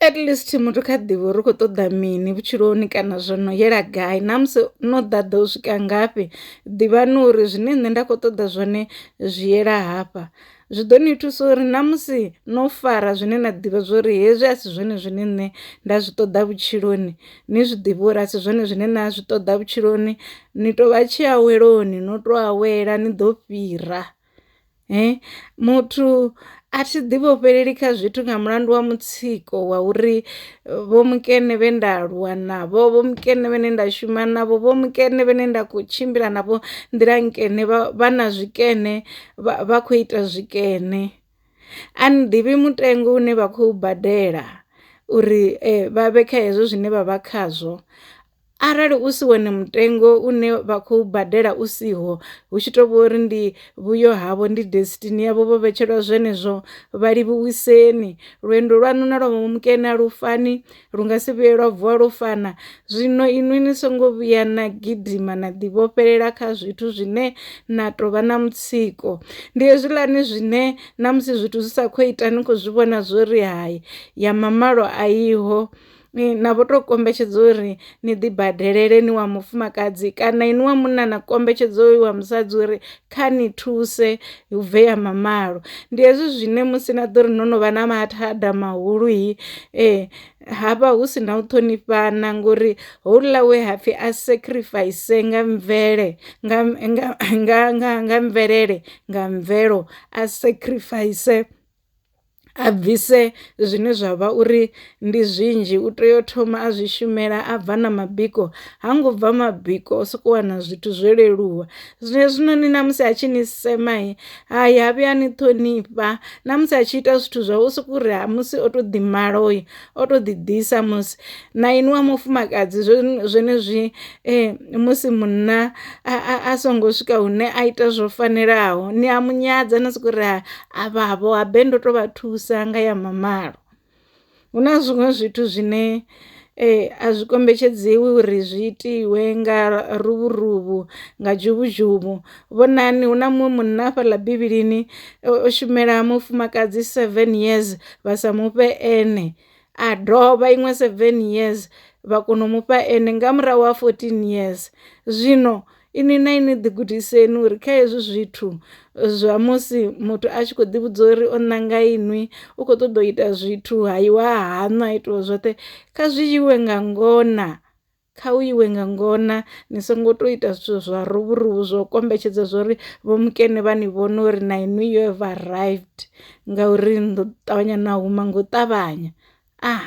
at least muthu kha ḓivhe uri u khou ṱoḓa mini vhutshiloni kana zwo no yela gai na musi no ḓaḓa u swika ngafhi ḓivhani uri zwine nṋe nda khou ṱoḓa zwone zwi yela hafha zwi ḓo ni thusa uri na musi no fara zwine na ḓivha zwori hezwi a si zwone zwine nṋe nda zwi ṱoḓa vhutshiloni ni zwi ḓivhe uri a si zwone zwine na zwi ṱoḓa vhutshiloni ni to vha tshiaweloni no to awela ni ḓo fhira. He muthu a thi ḓi vhofheleli kha zwithu nga mulandu wa mutsiko wa uri vho mukene vhe nda aluwa navho vho mukene vhane nda shuma navho vho mukene vhane nda kho tshimbila navho nḓila nkene vha na zwikene vha kho ita zwikene. A ni ḓivhi mutengo une vha khou badela uri vha vhe kha hezwo zwine vha vha khazwo arali u si wone mutengo une vha khou badela u siho hu tshi tou vha uri ndi vhuyo havho ndi destiny yavho vho vhetshelwa zwenezwo vha livhuwiseni lwendo lwaṋu na lwa mukene a lufani lu nga si vhuye lwa vuwa lwo fana zwino inwi ni songo vhuya na gidima na ḓivhofhelela kha zwithu zwine na tou vha na mutsiko ndi hezwiḽani zwine na musi zwithu zwi sa khou ita ni khou zwi vhona zwo ri hai ya mamalo a iho ni na vho to kombetshedza uri ni ḓi badelele ni wa mufumakadzi kana ini wa munna na kombetshedza uyu wa musadzi uri kha ni thuse hu bve ya mamalo ndi hezwi zwine musi na ḓo ri no no vha na mathada mahulu hi ee hafha hu si na u ṱhonifhana ngori houḽa we hapfhi a sacrifice nga mvele nga nga nga nga mvelele nga mvelo a sacrifice a bvise zwine zwa vha uri ndi zwinzhi u tea u thoma a zwi shumela a bva na mabiko ha ngo bva mabiko o soko wana zwithu zwo leluwa zwino zwinoni na musi a tshi ni sema hai ha vhuya ni ṱhonifha na musi a tshi ita zwithu zwa u sokou ri musi o to ḓi mala oyo o to ḓi ḓisa musi na ini wa mufumakadzi zwenezwi eh, musi munna a songo swika hune a ita zwo fanelaho ni a munyadza na sokou ri Avhavho habe ndo to vha thusa nga ya mamalo hu na zwiṅwe zwithu zwine eh, a zwi kombetshedziwi uri zwi itiwe nga ruvhuruvhu nga dzhuvhudzhuvhu vhonani hu na muṅwe munna fhaḽa bivhilini o shumela mufumakadzi seven years vha sa mufhe ene a dovha iṅwe seven years vha kona u mufha ene nga murahu ha 14 years zwino inwi na inwi ḓigudiseni uri kha hezwi zwithu zwa musi muthu a tshi khou ḓivhudza uri o ṋanga inwi u khou ṱoḓa u ita zwithu ha iwa haṋu ha itiwa zwoṱhe kha zwi iwe nga ngona kha u iwe nga ngona ni songo tou ita zwithu zwa ruvhuruvu zwo kombetshedza zwo uri vho mukene vha ni vhone uri na inwi yo ever arrived ngauri ndo ṱavhanya na huma ngo ṱavhanya ah